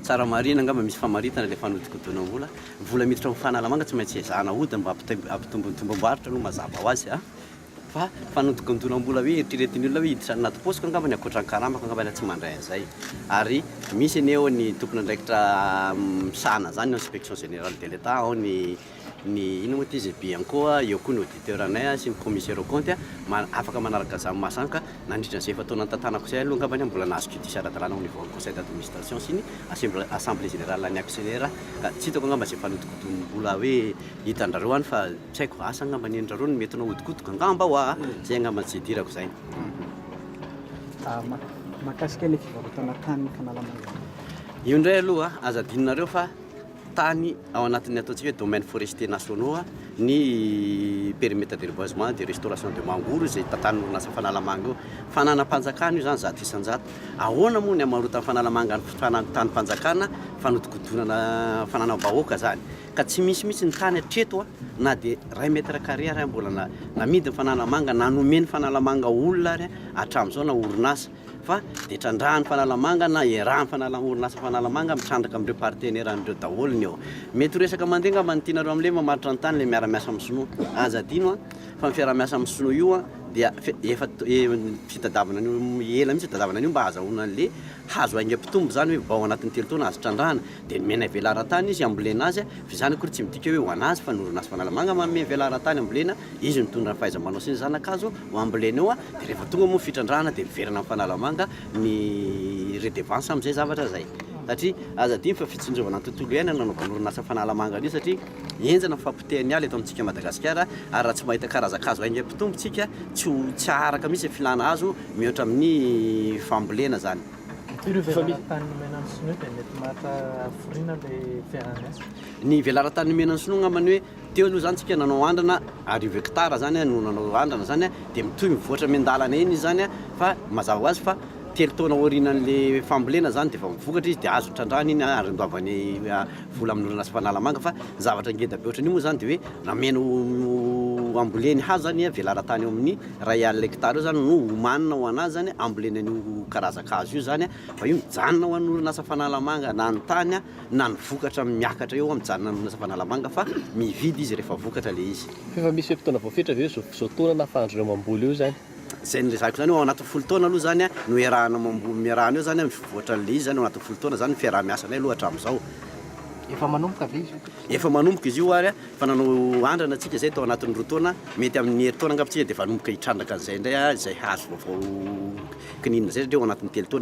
Tsara marihina angamba misy famaritana ilay fanodikodinam-bola. Vola miditra ao amin'ny fanalamanga tsy maintsy ezahana ahodina mba hampitombo ny tombam-barotra aloha mazava ho azy a! Fa fanodikodinam-bola hoe eritreretin'ny olona hoe hiditra anaty paosiko angamba ny ankoatran'ny karamako angamba ialahy tsy mandray an'izay. Ary misy anie ao ny tompon'andraikitra misahana an'izany, ao ny inspection générale de l'Etat, ao ny. ny inona moa ity izay Bianco a, eo koa ny auditeur-nay a, sy ny commissaire aux comptes a, afaka manaraka izany masanka nandritra izay efa-taona nitantanako izay aloha angambany aho mbola nahazo cutis ara-dalàna au niveau-n'ny conseil d'administration sy ny assemb- assemblée générale ny actionnaire ka tsy hitako angamba izay fanodikodonim-bola hoe hitan-drareo any fa tsy haiko, asa angamba nenin-drareo no mety nahodikodiko angamba ho'a a! izay angamba izay idirako izay. Mak- mahakasika ilay fivarotana tany Canal Mangareva. Io indray aloha aza adinonareo fa. tany ao anatin'ny ataontsika hoe domaines forestiers nationaux ny perimetre de reboisement de restauration de mangoro izay tantanin'ny orinasa Fanalamanga io. Fananam-panjakana io izany zato isan-jato. Ahoana moa ny hamarotan'ny Fanalamanga ny tanim-panjakana fanodinkodinana fananam-bahoaka izany ka tsy misy mihitsy ny tany hatreto na dia iray mètre carré ary mbola namidin'ny Fanalamanga na nomen'ny Fanalamanga olona ary hatramin'izao na orinasa fa dia trandrahan'ny fanalamanga na iarahan'ny fanala orinasa fanalamanga mitrandraka amin'ireo partenaire an'ireo daholo ny eo mety ho resaka mandeha angamba ny tianareo amin'ilay mamaritra ny tany ilay miara-miasa amin'ny sinoa aza adino a fa ny fiaraha-miasa amin'ny sinoa io a dia efa fitadavana an'io ela mihitsy tadavana an'io mba hazahoana an'ilay hazo aingam-pitombo izany hoe vao anatin'ny telo taona azo trandrahana dia nomena velaran-tany izy hambolena azy, fa izany akory tsy midika hoe ho an'azy fa ny orinasa Fanalamanga manome velaran-tany hambolena, izy mitondra ny fahaiza-manao sy ny zana-kazo ho ambolena eo, dia rehefa tonga moa ny fitrandrahana dia miverina amin'ny Fanalamanga ny redevance amin'izay zavatra izay, satria aza adino fa fitsinjovana ny tontolo iainana no nanaovana orinasa Fanalamanga an'io satria henjana ny fahapotehan'ny ala eto amintsika Madagasikara ary raha tsy mahita karazan-kazo haingam-pitombo isika tsy ho, tsy haharaka mihintsy ny filana hazo mihoatra amin'ny fambolena izany. Ny velaran-tany nomena ny sinoa dia mety maka hafiriana ilay fiaraha-miasa? Ny velaran-tany nomena ny sinoa angambany hoe teo aloha izany tsika nanao andrana arivo hectares izany no nanao andrana izany dia mitohy mivoatra miandalana eny izy izany fa mazava ho azy fa telo taona aorianan'ilay fambolena izany dia efa mivokatra izy dia azo trandrahana iny ary andoavany vola amin'ny orinasa Fanalamanga fa ny zavatra ngeda be ohatran'io moa izany dia hoe ramena ho amboleny hazo izany ny velaran-tany eo amin'ny Iray alina hekitara eo zany no homanina ho anazy zany hambolena an'io karazan-kazo io zany fa io mijanona ho an'ny orinasa Fanalamanga na ny tany na ny vokatra miakatra eo mijanona ny orinasa Fanalamanga fa mividy izy rehefa vokatra le izy. F'efa misy fe-potoana voafetra ve zao zao taona nahafahan'dry zareo mamboly eo zany? Zay nilezahiko zany hoe ao anatin'ny folo taona aloha zany no iarahana mamboly miarahana eo zany mivoatra an'le izy zany ao anatin'ny folo taona zany ny fiaraha-miasanay aloha hatramin'izao. Efa manomboka ve izy io? Efa manomboka izy io ary. Efa nanao andrana tsika izay tao anatin'ny roa taona, mety amin'ny herintaona angamba tsika dia efa hanomboka hitrandraka an'izay indray izay hahazo vaovao kininina izay satria ao anatin'ny telo taona